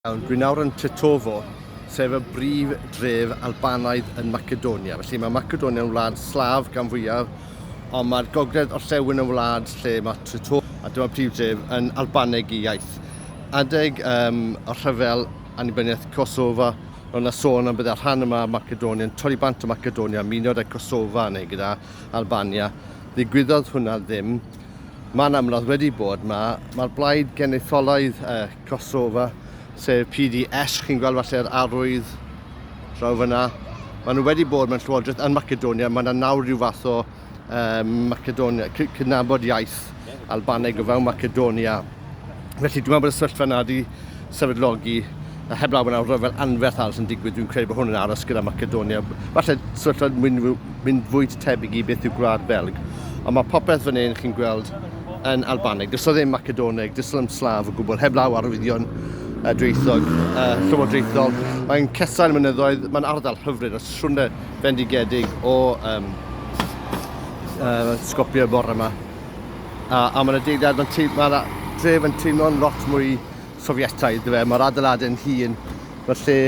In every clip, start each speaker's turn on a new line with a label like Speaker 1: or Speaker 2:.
Speaker 1: Dwi nawr yn Tetovo, sef y brif dref Albanaidd yn Macedonia. Felly mae Macedonia yn wlad slaf gan fwyaf, ond mae'r gogledd orllewin yn wlad lle mae Tetovo, a dyma prif dref yn Albaneg i iaith. Adeg um, y rhyfel annibyniaeth Kosovo, roedd yna sôn am bydda rhan yma Macedonia yn torri bant o Macedonia, myniodd y Kosovo neu gyda Albania. Ddigwyddodd hwnna ddim. Mae'n amlwg wedi bod, mae'r blaid genetholaidd uh, Kosova, sef PDS, chi'n gweld falle'r arwydd draw fyna. Maen nhw wedi bod mewn llywodraeth yn Macedonia, mae yna nawr rhyw fath o um, Macedonia, cydnabod iaith Albaneg o fewn Macedonia. Felly dwi'n meddwl bod y sefyllfa yna wedi sefydlogi a heb law yna rhyfel anferth arall yn digwydd, dwi'n credu bod hwn yn aros gyda Macedonia. Falle sefyllfa mynd, mynd fwy tebyg i beth yw gwlad Belg. Ond mae popeth fan hyn chi'n gweld yn Albaneg. Does o ddim Macedoneg, does o ddim Slav o gwbl, heblaw arwyddion uh, dweithog, uh, llywodraethol. Mae'n cesail mynyddoedd, mae'n ardal hyfryd a siwrne fendigedig o um, uh, sgopio y bore yma. A, a mae'n adeilad, mae'n ma dref yn teimlo'n lot mwy Sofietaidd, dwi fe. Mae'r adeiladau'n hun, mae'r lle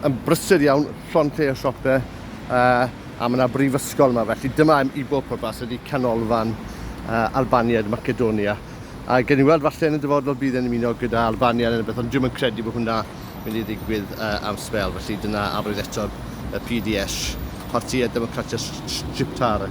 Speaker 1: yn brysur iawn, llon lle o siopau, uh, A mae yna brifysgol yma, felly dyma i bob pwrpas ydy canolfan uh, Albaniad Macedonia. A gen i weld falle yn y dyfodol bydd yn ymuno gyda Albania neu beth, ond dwi'n credu bod hwnna mynd i ddigwydd uh, am sbel, felly dyna afryd eto y PDS, Partia Demokratia Shqiptare.